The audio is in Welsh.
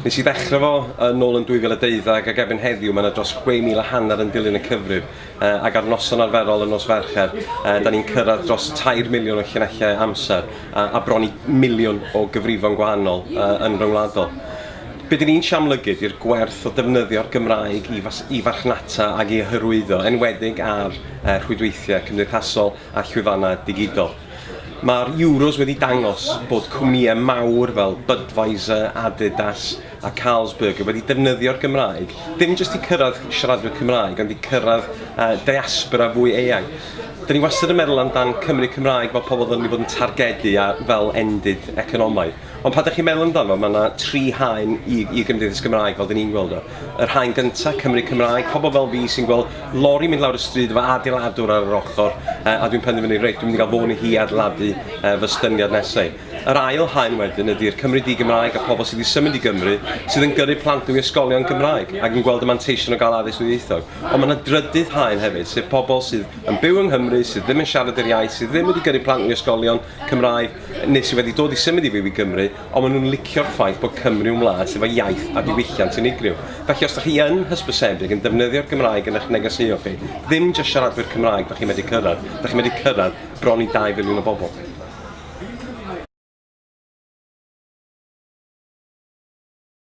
Nes i ddechrau fo yn ôl yn 2012 ac erbyn heddiw mae yna dros 6,000 a hanner yn dilyn y cyfrif uh, ac ar noson arferol yn nos Fercher uh, da ni'n cyrraedd dros 3 miliwn o llinellau amser uh, a bron i miliwn o gyfrifon gwahanol uh, yn ryngwladol. Be dyn ni'n siamlygu di'r gwerth o defnyddio'r Gymraeg i, fas, i farchnata ac i hyrwyddo, enwedig ar rhwydweithiau cymdeithasol a llwyfannau digidol. Mae'r Euros wedi dangos bod cwmnïau mawr fel Budweiser, Adidas a Carlsberg wedi defnyddio'r Gymraeg, dim jyst i cyrraedd siaradwyr Cymraeg, ond i cyrraedd diaspora fwy eang. Dyn ni wastad yn meddwl amdan Cymry Cymraeg fel pobl ddylwn ni fod yn targedu a fel endid economaidd. Ond pan 'da chi'n meddwl amdano, mae 'na tri haen i i Gymdeithas Gymraeg fel 'da ni'n gweld o. Yr haen gynta, Cymry Cymraeg, pobl fel fi sy'n gweld lori mynd lawr y stryd efo adeiladwr ar yr ochr yy a dwi'n penderfynu reit dwi'n mynd i gael fôn i hi adeiladu yy fy styniad nesau. Yr ail haen wedyn ydi'r Cymry di-Gymraeg a pobl sydd wedi symud i Gymru sydd yn gyrru plant nhw i ysgolion Gymraeg ac yn gweld y manteision o gael addysg ddwyieithog. Ond mae 'na drydydd haen hefyd, sef pobl sydd yn byw yng Nghymru, sydd ddim yn siarad yr iaith, sydd ddim wedi gyrru plant nhw i ysgolion Cymraeg, neu sydd wedi dod i symud i fyw i Gymru, ond maen nhw'n licio'r ffaith bod Cymru yn wlad sydd efo iaith a diwylliant unigryw. Felly, os dych chi yn hysbysebig yn defnyddio'r Gymraeg yn eich negeseuon chi, ddim jyst siaradwyr Cymraeg dych chi'n medru cyrraedd, dych chi'n medru cyrraedd bron i dau filiwn o bobl.